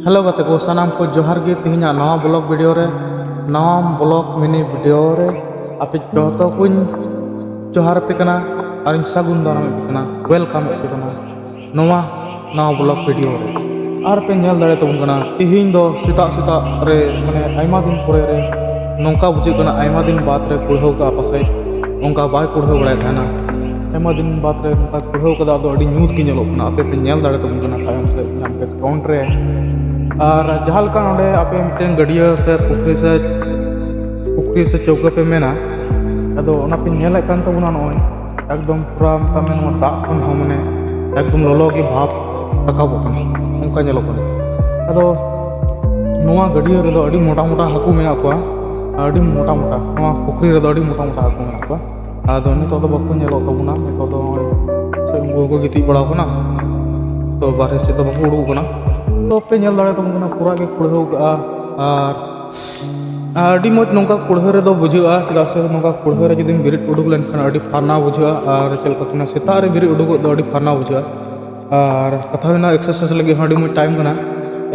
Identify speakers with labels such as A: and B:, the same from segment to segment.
A: hello ᱜᱟᱛᱮ ᱠᱚ ᱥᱟᱱᱟᱢ ᱠᱚ ᱡᱚᱦᱟᱨ ᱜᱮ ᱛᱮᱦᱮᱧᱟᱜ ᱱᱟᱣᱟ ᱵᱞᱚᱜ ᱵᱷᱤᱰᱤᱭᱳ ᱨᱮ ᱱᱟᱣᱟ ᱵᱞᱚᱜ ᱢᱤᱱᱤ ᱵᱷᱤᱰᱤᱭᱳ ᱨᱮ ᱟᱯᱮ ᱡᱚᱛᱚ ᱠᱚᱧ ᱡᱚᱦᱟᱨ ᱟᱯᱮ ᱠᱟᱱᱟ ᱟᱨ ᱤᱧ ᱥᱟᱹᱜᱩᱱ ᱫᱟᱨᱟᱢ ᱟᱯᱮ ᱠᱟᱱᱟ ᱣᱮᱞᱠᱟᱢ ᱟᱯᱮ ᱠᱟᱱᱟ ᱱᱚᱣᱟ ᱱᱟᱣᱟ ᱵᱞᱚᱜ ᱵᱷᱤᱰᱤᱭᱳ ᱨᱮ ᱟᱨ ᱯᱮ ᱧᱮᱞ ᱫᱟᱲᱮ ᱛᱟᱵᱚᱱ ᱠᱟᱱᱟ ᱛᱮᱦᱮᱧ ᱫᱚ ᱥᱮᱛᱟᱜ ᱥᱮᱛᱟᱜ ᱨᱮ ᱢᱟᱱᱮ ᱟᱭᱢᱟ ᱫᱤᱱ ᱯᱚᱨᱮ ᱨᱮ ᱱᱚᱝᱠᱟ ᱵᱩᱡᱷᱟᱹᱜ ᱠᱟᱱᱟ ᱟᱭᱢᱟ ᱫᱤᱱ ᱵᱟᱫ ᱨᱮ ᱠᱩᱲᱦᱟᱹᱣ ᱠᱟᱜᱼᱟ ᱯᱟᱥᱮᱡ ᱚᱱᱠᱟ ᱵᱟᱭ ᱠᱩᱲᱦᱟᱹᱣ ᱵᱟᱲᱟᱭ ᱛᱟᱦᱮᱱᱟ ᱟᱭᱢᱟ ᱫᱤᱱ ᱵᱟᱫ ᱨᱮ ᱱᱚᱝᱠᱟ ᱠᱩᱲᱦᱟᱹᱣ ᱠᱟᱫᱟ ᱟᱫᱚ ᱟᱹᱰᱤ ᱧᱩᱛ ᱜᱮ ᱧᱮᱞᱚᱜ ᱠᱟᱱᱟ ᱟᱯᱮ ᱯᱮ ᱧᱮᱞ ᱫᱟᱲᱮ ᱛᱟᱵᱚᱱ ᱠᱟᱱᱟ ᱛᱟᱭᱚᱢ ᱥᱮᱫ ᱧᱟᱢ ᱠᱮᱫ ᱠᱟᱣᱩᱱᱴ ᱨᱮ ᱟᱨ ᱡᱟᱦᱟᱸ ᱞᱮᱠᱟ ᱱᱚᱰᱮ ᱟᱯᱮ ᱢᱤᱫᱴᱮᱱ ᱜᱟᱹᱰᱭᱟᱹ ᱥᱮ ᱯᱩᱠᱷᱨᱤ ᱥᱮ ᱯᱩᱠᱷᱨᱤ ᱥᱮ ᱪᱟᱹᱣᱠᱟᱹ ᱯᱮ ᱢᱮᱱᱟ ᱟᱫᱚ ᱚᱱᱟ ᱯᱮ ᱧᱮᱞᱮᱫ ᱠᱟᱱ ᱛᱟᱵᱚᱱᱟ ᱱᱚᱜᱼᱚᱭ ᱮᱠᱫᱚᱢ ᱯᱩᱨᱟ ᱢᱮᱛᱟᱜ ᱢᱮ ᱱᱚᱣᱟ ᱫᱟᱜ ᱠᱷᱚᱱ ᱦᱚᱸ ᱢᱟᱱᱮ ᱮᱠᱫᱚᱢ ᱞᱚᱞᱚ ᱜᱮ ᱵᱷᱟᱵᱽ ᱨᱟᱠᱟᱵᱚᱜ ᱠᱟᱱᱟ ᱚᱱᱠᱟ ᱧᱮᱞᱚᱜ ᱠᱟᱱᱟ ᱟᱫᱚ ᱱᱚᱣᱟ ᱜᱟᱹᱰᱭᱟᱹ ᱨᱮᱫᱚ ᱟᱹᱰᱤ ᱢᱚᱴᱟ ᱢᱚᱴᱟ ᱦᱟᱹᱠᱩ ᱢᱮᱱᱟᱜ ᱠᱚᱣᱟ ᱟᱹᱰᱤ ᱢᱚᱴᱟ ᱢᱚᱴᱟ ᱱᱚᱣᱟ ᱯᱩᱠᱷᱨᱤ ᱨᱮᱫᱚ ᱟᱹᱰᱤ ᱢᱚᱴᱟ ᱢᱚᱴᱟ ᱦᱟᱹᱠᱩ ᱢᱮᱱᱟᱜ ᱠᱚᱣᱟ ᱟᱫᱚ ᱱᱤᱛᱚᱜ ᱫᱚ ᱵᱟᱠᱚ ᱧᱮᱞᱚᱜ ᱛᱟᱵᱚᱱᱟ ᱱᱤᱛᱚᱜ ᱫᱚ ᱱᱚᱜᱼᱚᱭ ᱥᱮ ᱩᱱᱠᱩ ᱦᱚᱸᱠᱚ ᱜᱤᱛᱤᱡ ᱵᱟᱲᱟᱣ ᱠᱟᱱᱟ ᱛᱚ ᱵᱟᱨᱦᱮ ᱥᱮᱫ ᱫᱚ ᱵᱟᱠᱚ ᱩᱰᱩᱠ ᱠᱟᱱᱟ ᱛᱚ ᱯᱮ ᱧᱮᱞ ᱫᱟᱲᱮ ᱛᱟᱵᱚᱱ ᱠᱟᱱᱟ ᱯᱩᱨᱟ ᱜᱮ ᱠᱩᱲᱦᱟᱹᱣ ᱠᱟᱜᱼᱟ ᱟᱨ ᱟᱹᱰᱤ ᱢᱚᱡᱽ ᱱᱚᱝᱠᱟ ᱠᱩᱲᱦᱟᱹ ᱨᱮᱫᱚ ᱵᱩᱡᱷᱟᱹᱜᱼᱟ ᱪᱮᱫᱟᱜ ᱥᱮ ᱱᱚᱝᱠᱟ ᱠᱩᱲᱦᱟᱹ ᱨᱮ ᱡᱩᱫᱤᱢ ᱵᱮᱨᱮᱫ ᱩᱰᱩᱠ ᱞᱮᱱᱠᱷᱟᱱ ᱟᱹᱰᱤ ᱯᱷᱟᱨᱱᱟᱣ ᱵᱩᱡᱷᱟᱹᱜᱼᱟ ᱟᱨ ᱪᱮᱫ ᱞᱮᱠᱟ ᱠᱚ ᱢᱮᱱᱟ ᱥᱮᱛᱟᱜ ᱨᱮ ᱵᱮᱨᱮᱫ ᱩᱰᱩᱠᱚᱜ ᱫᱚ ᱟᱹᱰᱤ ᱯᱷᱟᱨᱱᱟᱣ ᱵᱩᱡᱷᱟᱹᱜᱼᱟ ᱟᱨ ᱠᱟᱛᱷᱟ ᱦᱩᱭᱱᱟ ᱮᱠᱥᱟᱨᱥᱟᱭᱤᱡᱽ ᱞᱟᱹᱜᱤᱫ ᱦᱚᱸ ᱟᱹᱰᱤ ᱢᱚᱡᱽ ᱴᱟᱭᱤᱢ ᱠᱟᱱᱟ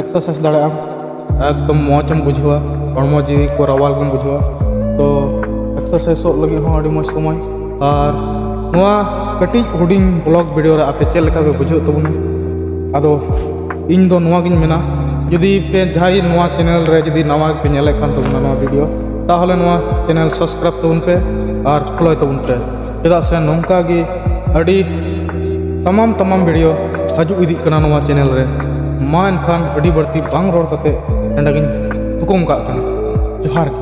A: ᱮᱠᱥᱟᱨᱥᱟᱭᱤᱡᱽ ᱫᱟᱲᱮᱭᱟᱜ ᱟᱢ ᱮᱠᱫᱚᱢ ᱢᱚᱡᱽ ᱮᱢ ᱵᱩᱡᱷᱟᱹᱣᱟ ᱦᱚᱲᱢᱚ ᱡᱤᱣᱤ ᱠᱚ ᱨᱟᱣᱟᱞ ᱜᱮᱢ ᱵᱩᱡᱷᱟᱹᱣᱟ ᱛᱚ ᱮᱠᱥᱟᱨᱥᱟᱭᱤᱡᱚᱜ ᱞᱟᱹᱜᱤᱫ ᱦᱚᱸ ᱟᱹᱰᱤ ᱢᱚᱡᱽ ᱥᱚᱢᱚᱭ ᱟᱨ ᱱᱚᱣᱟ ᱠᱟᱹᱴᱤᱡ ᱦᱩᱰᱤᱧ ᱵᱞᱚᱜ ᱵᱷᱤᱰᱤᱭᱳ ᱨᱮ ᱟᱯᱮ ᱪᱮᱫ ᱞᱮᱠᱟ ᱯᱮ ᱵᱩᱡᱷᱟᱹᱣ ᱛᱟᱵᱚᱱᱟ ᱟᱫᱚ ᱤᱧ ᱫᱚ ᱱᱚᱣᱟ ᱜᱤᱧ ᱢᱮᱱᱟ ᱡᱩᱫᱤ ᱯᱮ ᱡᱟᱦᱟᱸᱭ ᱱᱚᱣᱟ ᱪᱮᱱᱮᱞ ᱨᱮ ᱡᱩᱫᱤ ᱱᱟᱣᱟ ᱯᱮ ᱧᱮᱞᱮᱫ ᱠᱟᱱ ᱛᱟᱵᱚᱱᱟ ᱱᱚᱣᱟ ᱵᱷᱤᱰᱤᱭᱳ ᱛᱟᱦᱚᱞᱮ ᱱᱚᱣᱟ ᱪᱮᱱᱮᱞ ᱥᱟᱵᱥᱠᱨᱟᱭᱤᱵᱽ ᱛᱟᱵᱚᱱ ᱯᱮ ᱟᱨ ᱯᱷᱳᱞᱳᱭ ᱛᱟᱵᱚᱱ ᱯᱮ ᱪᱮᱫᱟᱜ ᱥᱮ ᱱᱚᱝᱠᱟ ᱜᱮ ᱟᱹᱰᱤ ᱛᱟᱢᱟᱢ ᱛᱟᱢᱟᱢ ᱵᱷᱤᱰᱤᱭᱳ ᱦᱤᱡᱩᱜ ᱤᱫᱤᱜ ᱠᱟᱱᱟ ᱱᱚᱣᱟ ᱪᱮᱱᱮᱞ ᱨᱮ ᱢᱟ ᱮᱱᱠᱷᱟᱱ ᱟᱹᱰᱤ ᱵᱟᱹᱲᱛᱤ ᱵᱟᱝ ᱨᱚᱲ ᱠᱟᱛᱮ ᱱᱚᱰᱮ ᱜᱤᱧ ᱦᱩᱠᱩᱢ ᱠᱟᱜ ᱠᱟᱱᱟ ᱡᱚᱦᱟᱨ ᱜᱮ